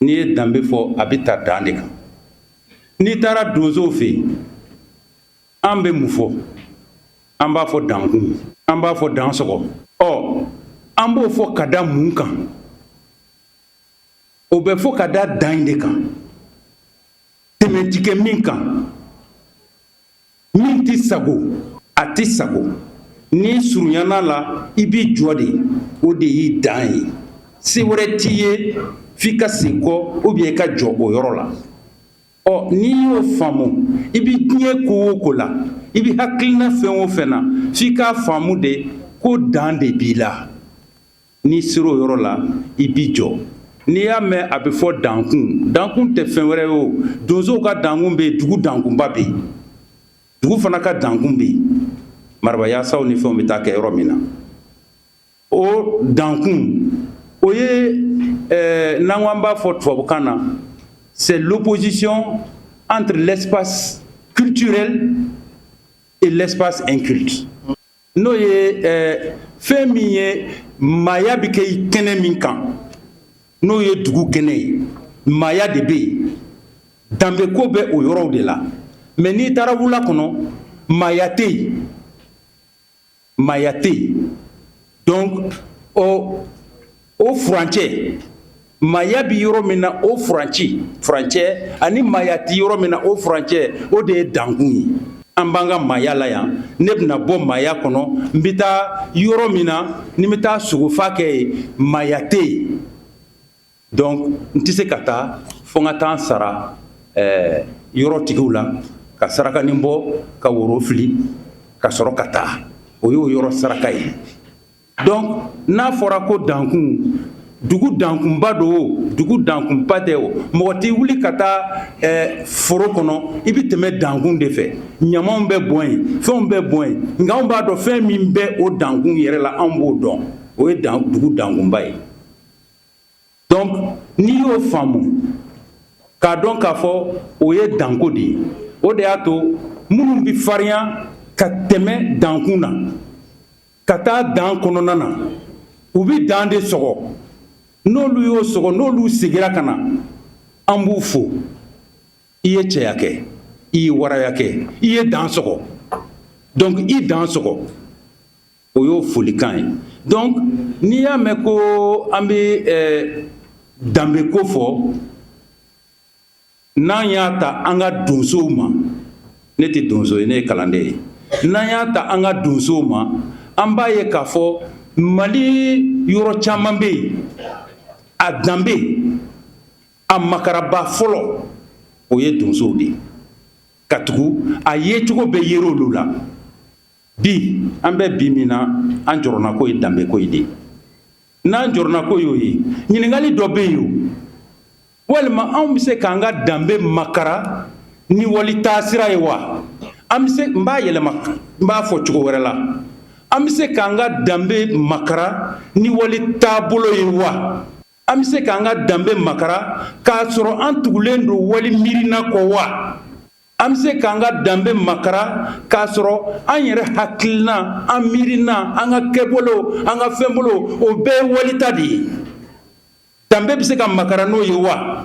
n'i ye danbe fɔ a bɛ ta dan de kan n'i taara donsow fɛ yen an bɛ mun fɔ an b'a fɔ dankun an b'a fɔ dan sɔgɔ ɔ an b'o fɔ ka da mun kan o bɛ fɔ ka da dan in de kan tɛmɛ tɛ kɛ min kan min tɛ sago a tɛ sago n'i surunyana a la i b'i jɔ de o de y'i dan ye se wɛrɛ t'i ye f'i ka segin kɔ ou bien i ka jɔ o yɔrɔ la ɔ n'i y'o faamu i bɛ diɲɛ ko o ko la i bɛ hakilina fɛn o fɛn na f'i k'a faamu de ko dan de b'i la n'i sera o yɔrɔ la i b'i jɔ n'i y'a mɛn a bɛ fɔ dankun dankun tɛ fɛn wɛrɛ ye o donsow ka dankun bɛ yen dugu dankunba bɛ yen dugu fana ka dankun bɛ yen marabayasaw ni fɛnw bɛ taa kɛ yɔrɔ min na o dankun o ye eh, n'an ko an b'a fɔ tubabukan na c'est l'opposition entre l'espace culturel et l'espace inculte n'o ye fɛn min ye maaya bɛ kɛ i kɛnɛ min kan n'o ye dugu kɛnɛ ye maaya de bɛ yen danbeko bɛ o yɔrɔw de la mais n'i taara wula kɔnɔ maaya tɛ yen maaya tɛ yen donc ɔ o furancɛ maaya bɛ yɔrɔ min na o furancɛ furancɛ ani maaya tɛ yɔrɔ min na o furancɛ o de ye dankun ye an b'an ka maaya la yan ne bɛna bɔ maaya kɔnɔ n bɛ taa yɔrɔ min na ne bɛ taa sogofa kɛ yen maaya tɛ yen donc n tɛ se ka taa fo n ka taa n sara ɛɛ yɔrɔtigiw la ka sarakanin bɔ ka woro fili ka sɔrɔ ka taa o y'o yɔrɔ saraka ye Donc n'a fɔra ko dankun dugu dankunba don o dugu dankunba tɛ o mɔgɔ tɛ wuli ka taa ɛɛ foro kɔnɔ i bɛ tɛmɛ dankun de fɛ ɲamanw bɛ bɔn yen fɛnw bɛ bɔn yen nka anw b'a dɔn fɛn min bɛ o dankun yɛrɛ la anw b'o dɔn o ye dan dugu dankunba ye donc n'i y'o faamu k'a dɔn k'a fɔ o ye danko de ye o de y'a to minnu bɛ farinya ka tɛmɛ dankun na ka taa dan kɔnɔna na u bɛ dan de sɔgɔ n'olu y'o sɔgɔ n'olu segira ka na an b'u fo i ye cɛya kɛ i ye waraya kɛ i ye dan sɔgɔ donc i dan sɔgɔ o y'o folikan ye donc n'i y'a mɛn ko an bɛ eh, danbeko fɔ N'an y'a ta an ka donsow ma ne tɛ donso ye ne ye kalanden ye n'an y'a ta an ka donsow ma an b'a ye k'a fɔ mali yɔrɔ caman bɛ yen a danbe a makaraba fɔlɔ o ye donsow de ye katugu a yecogo bɛ yira olu la bi an bɛ bi min na an jɔrɔnako ye danbeko ye de n'an jɔrɔnako y'o ye ɲininkali dɔ bɛ yen o walima anw bɛ se k'an ka danbe makara ni wali taasira ye wa an bɛ se n b'a yɛlɛma n b'a fɔ cogo wɛrɛ la an bɛ se k'an ka danbe makara ni wali taabolo ye wa an bɛ se k'an ka danbe makara k'a sɔrɔ an tugulen don wali miirina kɔ wa an bɛ se k'an ka danbe makara k'a sɔrɔ an yɛrɛ hakilina an miirina an ka kɛbolo an ka fɛnbolo o bɛɛ ye wali ta de ye danbe bɛ se ka makara n'o ye wa